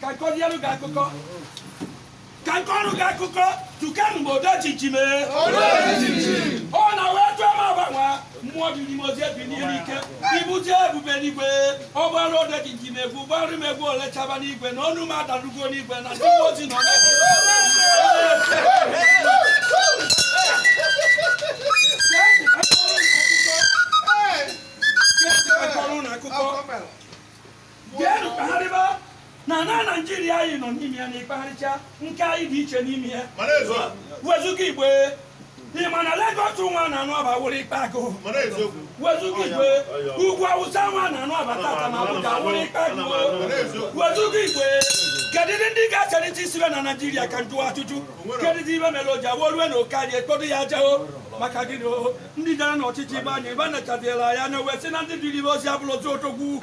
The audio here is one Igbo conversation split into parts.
ka m kọzielu gị akụkọ ka m kọrọ gị akụkọ tukenu m odojiji mee ọ na wee tụọ m agbanwe mmụọ dị n'ime ozi ebi n'ihe n'ike ibute ebube n'igwe ọ gbara odojiji m egwu gbarụ m egwu ole chaba n'igwe na onu m adarugo n'igwe na ndị mmụọ ozi nọ Jeenụ kpagharịba na na Naijiria anyị nọ n'ime ya na ị kpagharịcha nke anyị dị iche n'ime ya Mara eziokwu. wezuga Igbo ị ma na Lagos nwa na anụ ọba wụrụ ikpa agụ Mara eziokwu. wezuga Igbo ugwu awụsa nwa na anụ ọba tata na Abuja wụrụ ikpa agụ Mara eziokwu. wezuga Igbo kedụdị ndị ga-aserịta isibe na Naijiria ka m jụwa ajụjụ kedụdị ibe mere o ji awụ o lue na oke anyị e kpodo ya aja ọ maka gịnị o ndị jere n'ọchịchị ibe anyị ebe a nachadịela ya na wee sị na ndị dịrị ibe ozi abụrụ ozi otogwu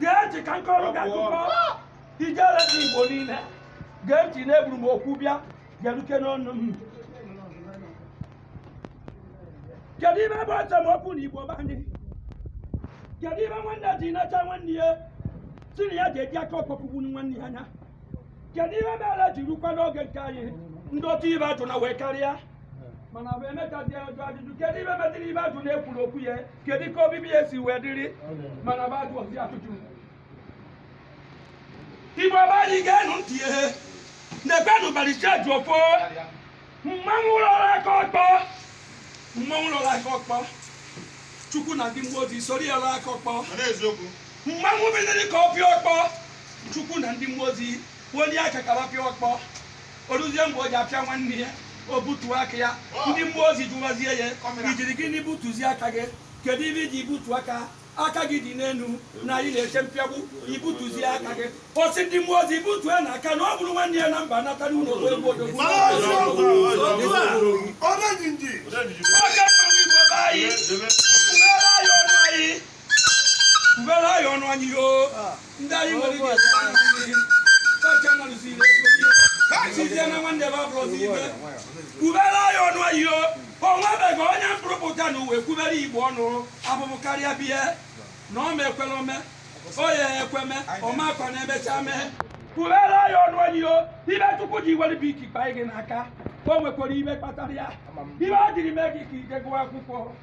gee ntị ka m kọrọ gị akụkọ ijele ndị igbo niile gee ntị na eburu m okwu bịa bịaruke n'ọnụ m kedu ibe bụ esemokwu na igbo be anyị kedu ibe nwanne ji nacha nwanne ya sị na ya ga-eji aka ọkpọ kụgbuo nwanne ya anya kedu ibe mere ji rukwa n'oge nke anyị ndị otu ibe ajụ na wee karịa mana bụ emechazi ajụ ajụjụ kedu ibe metịrị ibe ajụ na-ekwuru okwu ya kedu ka obibi ya si wee dịrị mana bụ a jụọzie ajụjụ igbo be anyị geenụ ntị ihe na-ekwenụ baricheji ofo mmanwụ lọrọ aka ọkpọ mmanwụ lọrọ aka ọkpọ chukwu na ndị mmụọ ozi soro ya lọrọ aka ọkpọ Mana eziokwu. mmanwụ biliri ka ọ pịa ọkpọ chukwu na ndị mmụọ ozi ewelie aka ka ha pịa ọkpọ o ruzie mgbe o ji apịa nwanne ya o butuo aka ya ndị mmụọ ozi jụwazie ya i jiri gịnị butuzie aka gị kedu ibe i ji butuo aka aka gị dị n'elu na anyị na-eche mpịagbu i butuzie aka gị ọ sị ndị mmụọ ozi butuenụ aka na ọ bụrụ nwanne ya na mba nata n'ụlọ egwu odogwu ndị anyị nwere ike kacha nọrụsiri ha chizie na nwanne ebe abụrụzi ibe kwubere anyị ọnụ ahịo o nwebeghị onye m kpụrụ kpụta n'ụwa kwubere igbo ọnụ abụbụ karịa biya na ọ ma ekwela ome oye ekweme ọ makwa na emecha mee kwubere anyị ọnụ ahịo ibe chukwu ji were bu ike kpanye gị n'aka o nwekwara ibe kpatara ya ibe o jiri mee gị ka i je gụọ akwụkwọ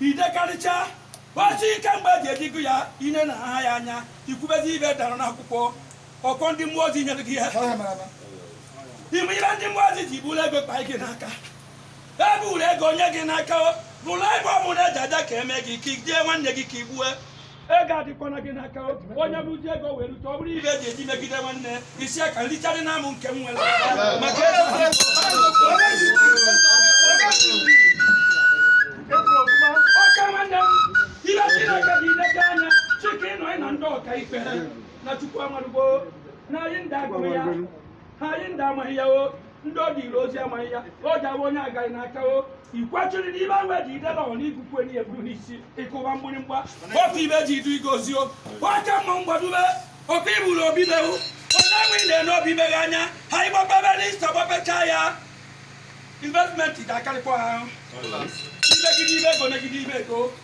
idekarịcha gbachi ike mgbe eji ejigo ya ine na aha ya anya ikwubezi ibe dara n'akwụkwọ ọkọ ndị mmụọ ozi nyere gị ya ime ihe ndị mmụọ ozi ji buru ego kpa gị n'aka e buru ego nye gị n'aka bụrụ ebe ọ bụla eji aja ka eme gị ka ijie nwanne gị ka igbue ego adịkwana gị n'aka onye buzi ego wee rute ọ bụrụ ibe eji eji megide nwanne isi aka nricharị na amụ nke m nwere maka ọka nwanne m ihe chineke dị ileta anya chike ịnọ ịna ndị ọka ikpe na chukwu amarụgbo na anyị ndị agụrụ ya ha anyị ndị amaghị ya o ndị ọ dịrị ozi amaghị ya o ji abụ onye agaghị n'aka o ikwechiri n'ibe ahụ eji idela ọ n'ikuku enyi ya buru n'isi ịkụwa mgbịrịmgba otu ibe ji idu igozi o oke mma mgbadube oke iburu obi mewu onye enwe ị na-ene obi meghe anya ha ịgbapebe n'ista gbapecha ya investment ga-akarịkwa ha ahụ imegide ibe ego megide ibe ego